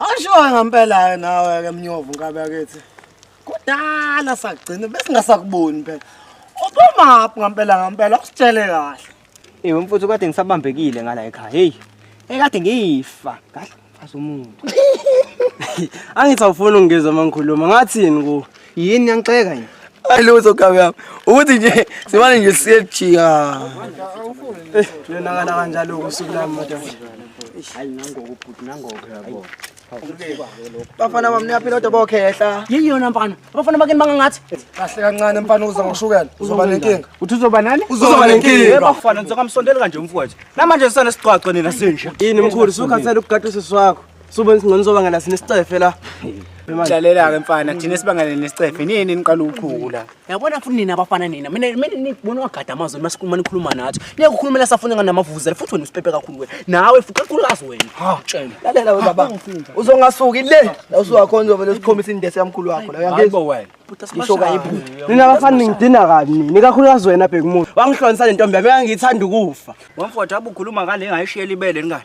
Awushoyo ngempela-ke nawe-ke mnyovu nkabi yakithi kudala sagcina besingasakuboni phela ubumaphi ngempela ngempela usitshele kahle Ewe mfuthu kade ngisabambekile ngala ekhaya. Hey. Ekade ngifa. Kahle mfazi umuntu. Angithi awufuni ungizwa mangikhuluma. Ngathini ku? yini niyangixeka yini hayi lutho gabe yami ukuthi nje simane nje siyejika uyonakala kanjalo usuku lami madoda hayi nangoku bhuti nangoku yabo bafana bami niyaphila kodwa bokhehla yini yona mfana abafana bakini bangangathi kahle kancane mfana uza ngoshukela uzoba nenkinga uthi uzoba nani uzoba nenkinga bafana nizongamsondeli kanje umfowethu namanje sisane siqwaco nina sinje yini mkhulu sukhathele ukugadisa swakho Suba singcono sobangela sine sicefe la. Jalela ke mfana thina sibangela nesicefe nini niqala uchuku la. Yabona futhi nina abafana nina mina mina nibona wagada amazwi masikhuluma nikhuluma nathi. Niye kukhulumela safuna ngana mavuzela futhi wena usipepe kakhulu wena. Nawe futhi kakhulu kazi wena. Ha tshela. Lalela we baba. Uzongasuki le. La usuwakhona uzovele usikhombisa indesi yamkhulu wakho la uyangizwa. Hayibo wena. Ngisho kayiphutha. Nina abafana ningidina kabi nini kakhulukazi wena bheka umuntu. Wangihlonisa le ntombi yami yangithanda ukufa. Wamfotha abukhuluma ngale ngayishiyela ibele ngani.